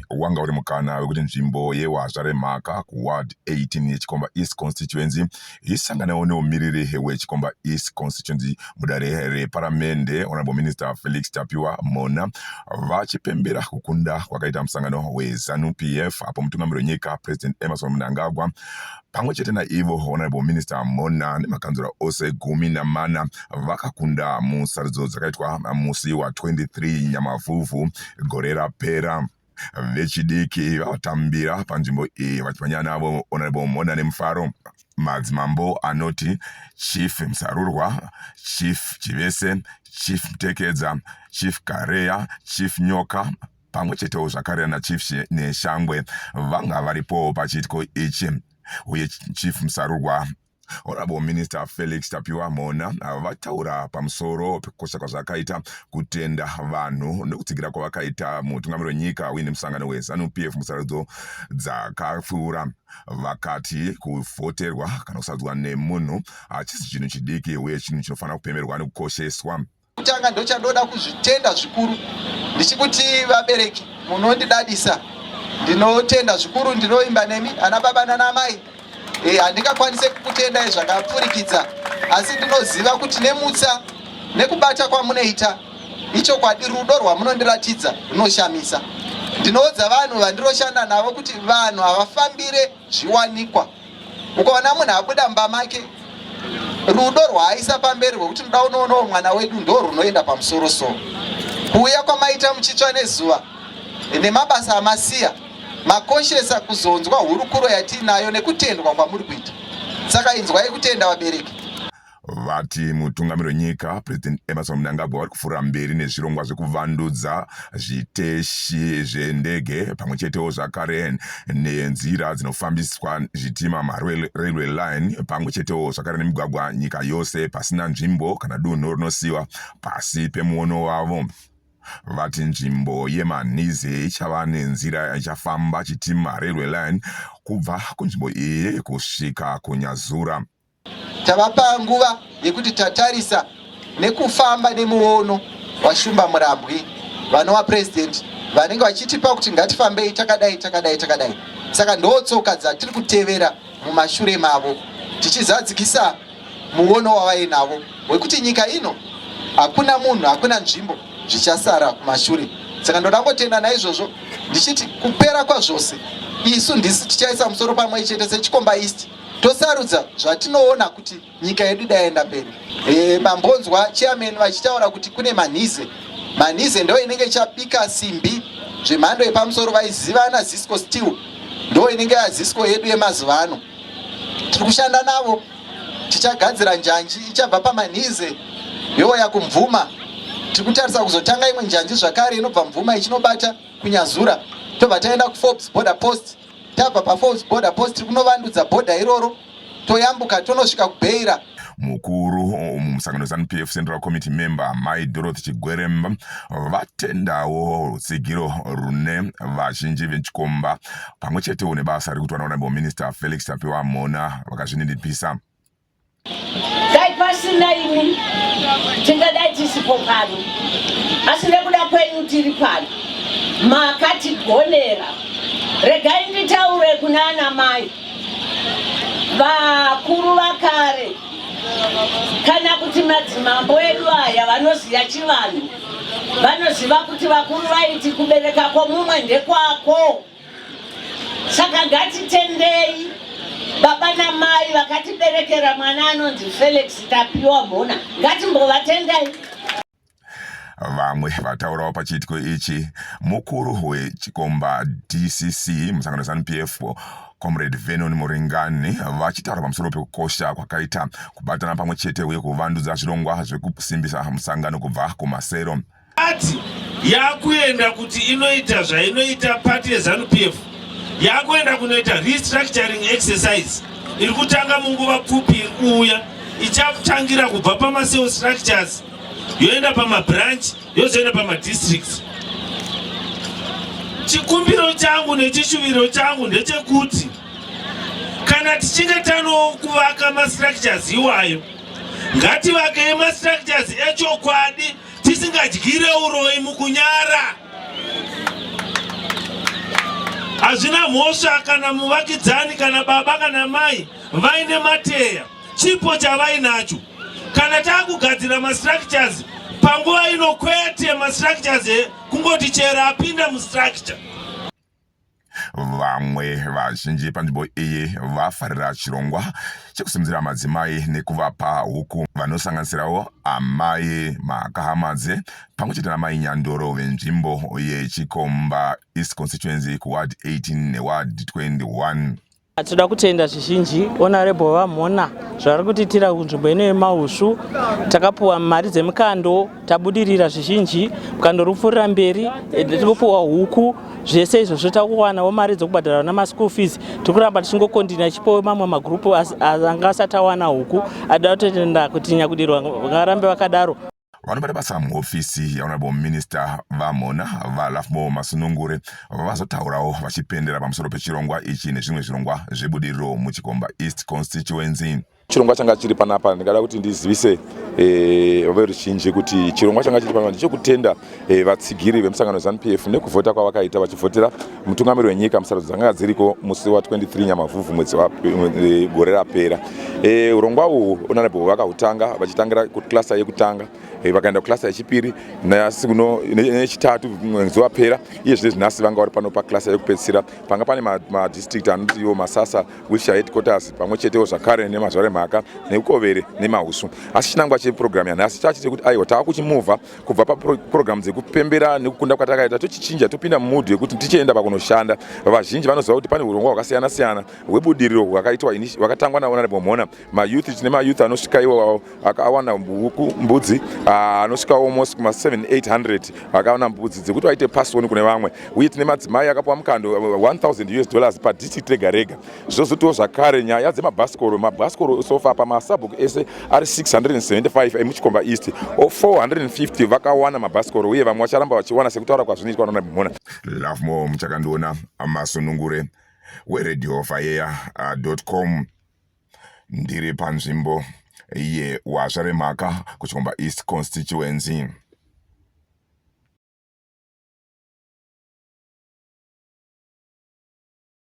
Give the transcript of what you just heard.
wanga uri mukana wekuti nzvimbo yewazva remhaka kuward 18 yechikomba east constituency isanganewo neumiriri wechikomba east constituency mudare reparamende honorable minister felix tapiwa mona vachipembera kukunda kwakaita musangano wezanu pf apo mutungamiri wenyika president emerson mnangagwa Pamwe chete naivo, Honourable Minister Mona nemakanzura ose gumi namana vakakunda musarudzo dzakaitwa musi wa 23 Nyamavhuvhu gore rapera. Vechidiki vatambira panzvimbo iyi vachimhanya navo Honourable Mona nemufaro. Madzimambo anoti Chief Msarurwa, Chief Chivese, Chief Mtekedza, Chief Kareya, Chief Nyoka, pamwe chetewo zvakare ana chief neshangwe vanga varipowo pachiitiko ichi uye chief musarurwa Honorable Minister Felix Tapiwa Mona uh, vataura pamusoro pekukosha kwazvakaita kutenda vanhu nekutsigira kwavakaita mutungamiri wenyika uine musangano weZanu PF musarudzo dzakapfuura vakati kuvhoterwa kana kusadzwa nemunhu hachisi chinhu chidiki uye chinhu chinofanira kupemerwa nekukosheswa Kutanga ndochandoda kuzvitenda zvikuru ndichikuti vabereki munondidadisa ndinotenda zvikuru ndinoimba nemi ana baba nana mai eh, handingakwanise e, kukutendai zvakapfurikidza asi ndinoziva kuti nemutsa nekubata kwamunoita ichokwadi rudo rwamunondiratidza runoshamisa ndinoudza vanhu vandiroshanda navo kuti vanhu havafambire zviwanikwa ukaona munhu abuda mumba make rudo rwaaisa pamberi rwekuti ndoda unoonawo mwana wedu ndo rwunoenda pamusoro so kuuya kwamaita muchitsva nezuva nemabasa amasiya makoshesa kuzonzwa hurukuro yatiinayo nekutendwa kwamuri kuita saka inzwai kutenda vabereki vati mutungamiri wenyika president emerson mnangagwa vari kufura mberi nezvirongwa zvekuvandudza zviteshi zvendege pamwe chetewo zvakare nenzira dzinofambiswa zvitima marailway line pamwe chetewo zvakare nemigwagwa nyika yose pasina nzvimbo kana dunhu rinosiyiwa pasi pemuono wavo vati nzvimbo yemanhize ichava nenzira ichafamba chitima railway line kubva kunzvimbo iyi kusvika kunyazura Tavapa nguva yekuti tatarisa nekufamba nemuono waShumba Murambwi vanova president vanenge vachitipa kuti ngatifambei takadai takadai takadai. Saka ndotsoka dzatiri kutevera mumashure mavo tichizadzikisa muono wavainavo wekuti nyika ino hakuna munhu hakuna nzvimbo zvichasara kumashure saka ndoda ngotenda naizvozvo ndichiti kupera kwazvose isu ndisi tichaisa musoro pamwe chete sechikomba east tosarudza zvatinoona kuti nyika yedu idaenda mberi e, mambonzwa chairman vachitaura kuti kune manhize manhize ndo inenge chapika simbi zvemhando yepamusoro vaizivana zisco steel ndo inenge yazisco yedu yemazuva ano tiri kushanda navo tichagadzira njanji ichabva pamanhize youya kumvuma tiri kutarisa kuzotanga imwe njanji zvakare inobva mvuma ichinobata kunyazura tobva taenda kuforbes border post Tabva paFalls Border Post tiri kunovandudza bhodha iroro toyambuka tonosvika kuBeira. Mukuru mumusangano weZanu-PF Central Committee member Mai Dorothy Chigweremba vatendawo rutsigiro rune vazhinji vechikomba pamwe chetewo nebasa riri kuitwa naHonorable Minister Felix Tapiwa Mhona vakazvininipisa. Dai pasina imi tingadai tisipo pano, asi nekuda kwenyu tiri pano. Makatigonera. Regai nditaure kuna ana mai vakuru vakare kana kuti madzimambo edu aya vanoziva chivanhu vanoziva kuti vakuru vaiti kubereka kwomumwe ndekwako. saka ngatitendei baba namai vakatiberekera mwana anonzi felix tapiwa mhona ngatimbovatendai vamwe vataurawo pachiitiko ichi mukuru wechikomba dcc musangano zanup f comrade venon muringani vachitaura pamusoro pekukosha kwakaita kubatana pamwe chete uye kuvandudza zvirongwa zvekusimbisa musangano kubva kumasero Party yakuenda kuti inoita zvainoita party yeZanu PF yakuenda kunoita restructuring exercise iri kutanga munguva pfupi iri kuuya ichatangira kubva pamaseo structures yoenda pamabranch yozoenda pamadistricts chikumbiro changu nechishuviro changu ndechekuti kana tichinge tanokuvaka mastructures iwayo ngativakei mastructures echokwadi tisingadyire uroyi mukunyara hazvina mhosva kana muvakidzani kana baba kana mai vaine mateya chipo chavainacho kana takugadzira mastructures panguva ino kwete mastructures kungoti chero apinda mustructure Vamwe vazhinji panzvimbo iyi vafarira chirongwa chekusimudzira madzimai nekuvapa huku vanosanganisirawo amai Makahamadze pamwe chete namai Nyandoro venzvimbo yeChikomba East Constituency kuWard 18 neWard 21. Tinoda kutenda zvizhinji Honorable VaMhona zvavari kutiitira kunzvimbo ino yemausvu. Takapuwa mari dzemukando, tabudirira zvizhinji, mukando uri kupfuurira mberi, eh, tiri kupuwa huku, zvese izvozvo takuwanawo mari dzokubhadhara vana maschool fees. Tiri kuramba tichingokondina chipowo mamwe magrupu anga asati awana huku, ada kutenda kuti nyakudirwa varambe vakadaro. vanobata basa muhofisi yehonorable minister vamhona valafmo masunungure vazotaurawo vachipendera pamusoro pechirongwa ichi nezvimwe zvirongwa zvebudiriro muchikomba east constituency chirongwa changa chiri panapa ndingada kuti ndizivise eh, veruzhinji kuti chirongwa changa chiri panapa ndichekutenda eh, vatsigiri vemusangano wezanup f nekuvhota kwavakaita vachivhotera mutungamiri wenyika musarudzo dzanga dziriko musi wa 23 nyamavhuvhu mwedzi e, gore rapera e, urongwa uhwu honorable vakahutanga vachitangira kuklasa yekutanga e, vakaenda kuklasa yechipiri nasi kuno nechitatu mwedzi wapera iye zvinezvi nhasi vanga vari pano paklasa yekupedzisira panga pane madistrict anoti iwo masasa wilshire headquarters pamwe chetewo zvakare nemazvare mhaka neukovere nemausu asi chinangwa cheprogramu yanhasi chachi chekuti aiwa tava kuchimuvha kubva paprogramu dzekupembera nekukunda kwatakaita tochichinja topinda mumudhu yekuti tichienda pakunoshanda vazhinji vanoziva kuti pane urongwa hwakasiyana siyana hwebudiriro hwakaitwa hwakatangwa naonarable mhona mayouth tine mayouth anosvika iwawo akawana buku mbudzi ah, anosvika almost kuma 7800 akawana mbudzi dzekuti vaite pasoni kune vamwe uye tine madzimai akapuwa mukando 1000 us dollars padistrict rega rega zvozotiwo zvakare nyaya dzemabhasikoro mabhasikoro sofa pamasabhuku ese ari 675 emuchikomba east o 450 vakawana mabhasikoro uye vamwe vacharamba vachiwana sekutaura kwazvinoitwa nana mhona lovemore muchakandiona masunungure weredio fayeya com ndiri panzvimbo yewazva remhaka kuchikomba east constituency